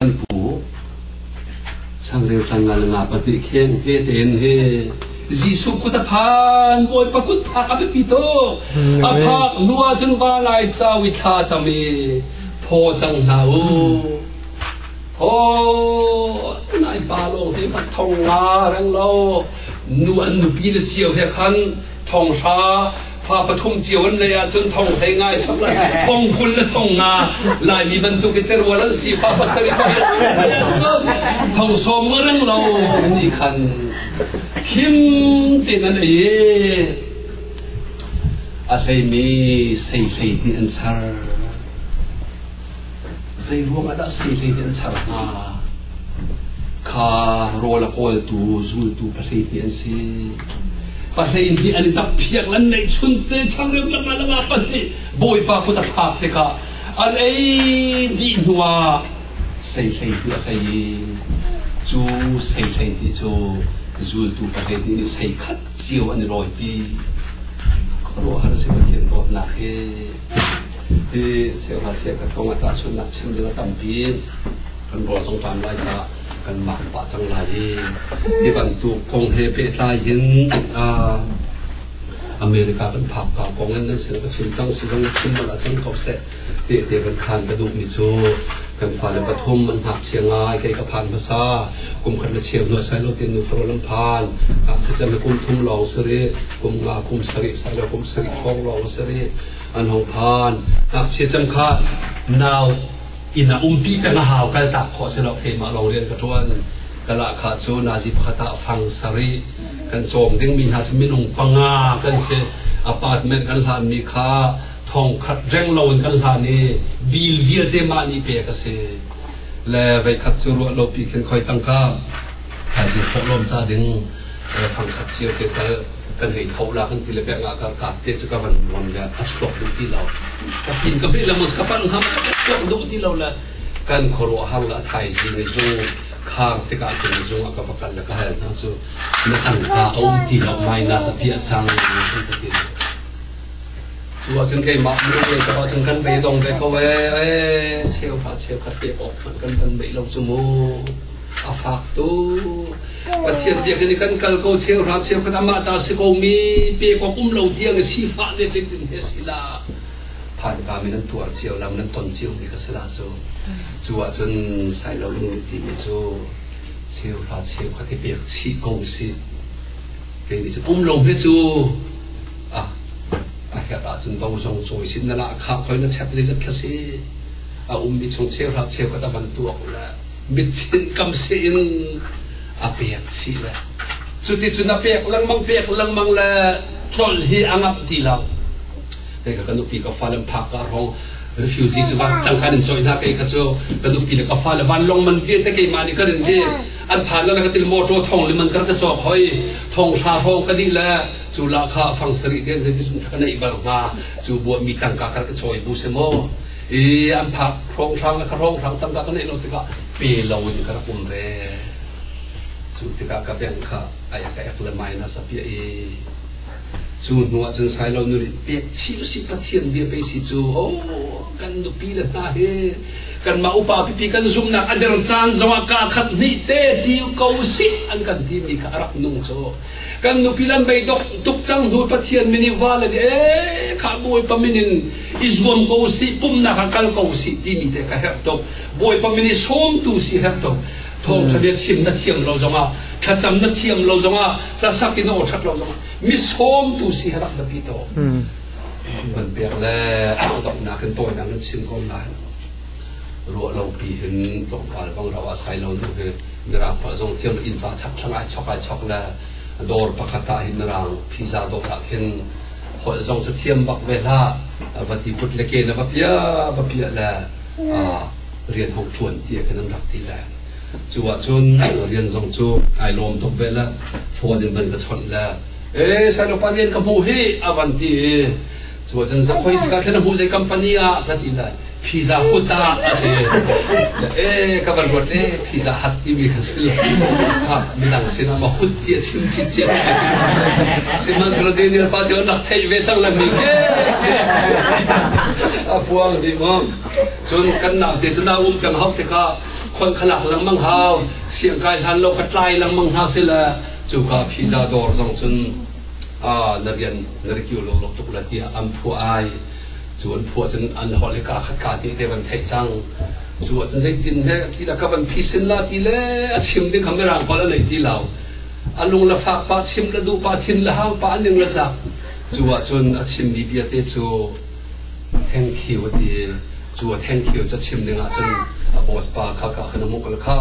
Kan pu changreu tlangngalnga pahnih kheng he tein he Jesuh kut a phan Bawipa kut phak a biapi tuk a phak hnu ahcun va lai cao i thla cam i phaw cang hna u phaw nai pa lawng te va thong nga reng lo nu an nupi le cio he khan thong hra fa pathum cio an lei ahcun thong hlei ngai thong kul le thong nga laimi bantuk i terwal an si fa pasarih thong sawm ngarang lo nih khan khim tin an ei a hleimi sei hlei nih an sar Zeiruangah dah sehlei nih an ser hna? Kha rawl a kawltu zultu pahlei nih an si. Pahlei nih an i tappiak an neih chunte changreu tangah lama pahnih Bawipa kut a thlak tikah an ei dih hnuah sehlei nih a hei i cu sehlei nih cu zultu pahlei nih ni sei khat cio an i lawipi khuaruahhar a si Pathian dawtnak hi hi cheu hna seh ka kong a tahchunhnak chim ding a tampi kan rawl zong tan lai ca kan mah pah cang lai i hi bantuk kong he pehtlai hin America kan phak ka kong in nan sin ka chim cang si zong chim bal a cang ko seh te te kan khan ka duh mi cu kan fale pathum an hak sia ngai kai ka phan hmasa kum khat le cheu hnuah sai lo ti nu faro lam phan sacam kum thum lawng si ri kum nga kum sarih sai lo kum sarih thong lawng si ri an hong phan ngakchia cam kha nau ina umpi ka na hau kal tak kho se lo keimah lawng rian ka tuan kala kha cu nazi phata fang sari kan chawm ding mi hna cu minung panga kan se apartment kan hlan mi kha thong khat reng lo in kan hlan i bil vialte ma ni pe ka se le veikhat cu ruahlawp i khin khoi tangka thaizing thawh lawm ca ding fangkhat cio te tal kan hei tho la kan ti le bek nga kar ka te chu ka van ron le a chuak duh ti lo ka tin ka bil mus ka pan ham ka chuak duh ti lo le kan khoro hang la thaizing zung khang te ka kin zung ka vakal le ka hal na chu na an ka om ti lo minus a pia chang kan ti Cu ahcun keimah biaruah ahcun kan beidong ve ko ee, cheuhra cheukhat pek awk hmanh kan kan beih lo cu mu. A fak tuk. Pathian biakinn i kan kal ko cheuhra cheukhat amah ta si komi pek awk um lo tiang i sifah ne tleitin he si la. Phan kam in nan tuar cio lam nan ton cio mi ka si la cu. Cu ahcun Sailo lungmit timi cu cheuhra cheukhat i pek chih ko si. Kei nih pum lung hi cu a a herh ahcun do zong cawi sin na lah khak hoi na chep zeizat thla si a ummi chung cheuhra cheu ka van tuak le mit chin kam si in a pek chih le cuti cu na pek lengmang pek lengmang le tlol hi a ngap ti lo kei ka nupi ka fa lam phak ka rong refugee cu van tangkan in choi hna kei ka cu ka nupi le ka fa le van long man pian te keimah nih ka rin hi an phan le ka til ho ṭaw thong lim an kar ka cawk hoi thong hra hrawng ka dih le cu la kha fang sari te an ti sun thaka nei bal hnga cu bua mi tangka kar ka choi bu se mo i an phak hrawng hrang ka hrawng hrang tangka ka nei lo tikah pe lo in ka rak um re cu tikah ka beng kha ai ka ek le mai na sapia i cu hnu ah cun sai lo nu nih pek chi si pathian bia pe si cu oh kan nupile hna hi kanmah upa pipi kan zumhnak a der caan zong ah kaa khat hnih te ti ko sih an kan timi kha a rak nung cu kan nupi lan mei dok tuk cang hnu pathian min i vale nih e kha bawipa min in i zuam ko si pumnak ah kal ko si timi te ka herh tuk bawipa min i sawmtu si herh tuk thawngtha bia chim na thiam lo zong ah thlacam na thiam lo zong ah hlasak in aw that lo zong ah mi sawmtu si rak biapi to kan pek le donghnak in tawinak nan sim ko lai ruah lo pi in tlawmpal bang ro a sai lo nu hi mirang pa zong thiam in fa chak thlang ai chok ai chok le dawr pakhat ta hin mirang pizza dawr ah khin holh zong cu thiam bak ve la va ti put le ke na va pia va pia le rian hong chuan tia kan rak ti le cu ah cun rian zong cu ai lawm tuk ve le phone in ban ka chon le e sal upa rian ka hmuh hi a van ti i cuba cun zakhoi sika thlen hmuh zei company ah ka ti lai pizza hut ah a ti e ka van ruat le pizza hat timi ka si lo ha midang sin ah ma hut ti a chim chi cia ka chim siman sala de ni pa ti nak thei ve cang la mi ke a puang di mo cun kan nak te cun um kan hau te ka khon khalak lang mang hau siang kai hlan lo ka tlai lang mang hna se la Cuka pizza dawr zong cun na rian na ri kiu lawlawk tuk la tiah an phuah ai. Cu an phuah cun an holh hi kaa khat kaa hnih te van theih cang. Cu ahcun zeitin he ti la ka van phisin la ti le a chim ding kha mirang holh a nei ti lo. A lung la fak pa chim la duh pa thin la hang pa a ning la zak. Cu ahcun a chimmi biate cu Thank you ti cu thank you ca chim ding ahcun a boss pa kha ka hun mukal kha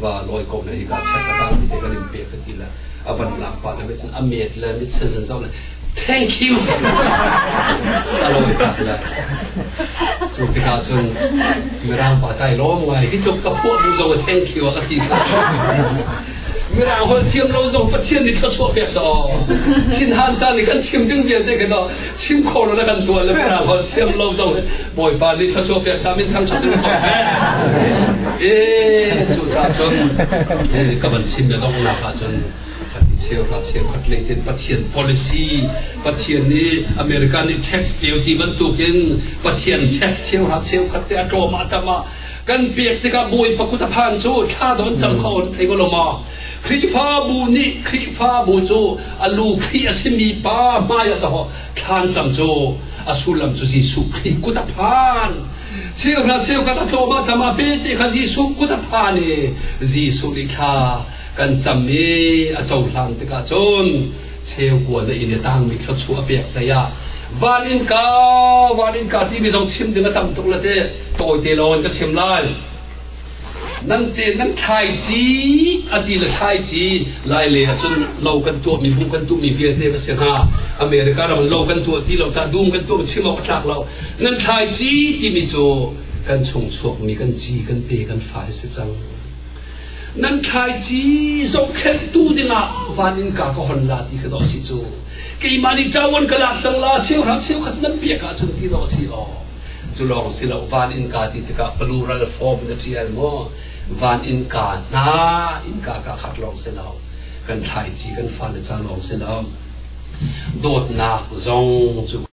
va lawi ko na i ka check a kang ti kan in pe ka ti le a van lak pa na me cun a met le mit sen sen zong le thank you a lawi tak le cu tikah cun mirang pa cai lawm ngai hi tluk ka phuah bu zong thank you a ka ti mirang hol thiam lo zong pathian nih thluachuah pek da thin han caan nih kan chim ding vialte ka da chim khawh lo na kan tuah le hna khon thiam lo zong bawipa nih thluachuah pek ca min thang ṭhat in ko seh eh cu ca cun ka van chim le donghnak ah cun cheu ra cheu khat le tin pathian policy pathian nih america nih tax peo ti bantuk in pathian tax cheu ra cheu khat te atlawm atama kan pek tikah bawi pakut aphan cu thla don cang kho thei ko lo ma Khrihfabu nih Khrihfabu cu a lu Khrih a simi pa hmaiah dawh thlan cang cu a sullam cu Jesuh Khrih kut a phan. Cheuhra cheukhat a tlawm ah tamah pe te kha Jesuh kut a phan i Jesuh nih thla kan cam i a cohlang tikah cun cheu kuan a inn i tangmi thluachuah a pek hlei ah van in ka van in ka timi zong chim ding a tam tuk le teh tawite lawng in ka chim lai. Nan te nan thlai ci a ti le thlai ci lai le ahcun lo kan tuahmi bu kan tuahmi vialte va si hna America ram lo kan tuah ti lo cah dum kan tuah chim awk a tlak lo nan thlai ci timi cu kan chung chuakmi kan ci kan te kan fa hi si cang nan thlai ci zohkhenhtu dingah van in ka ka hon la ti ka do si cu keimah nih ṭawan ka lak cang la cheu hra cheu khat nan piak ahcun ti do si aw Cu lawng si lo, van in kaa ti tikah plural form na ṭial maw? Van in kaa hna, in kaa kaa khat lawng si lo. Kan thlaici kan fan a ca lawng si lo. Dawtnak zong cu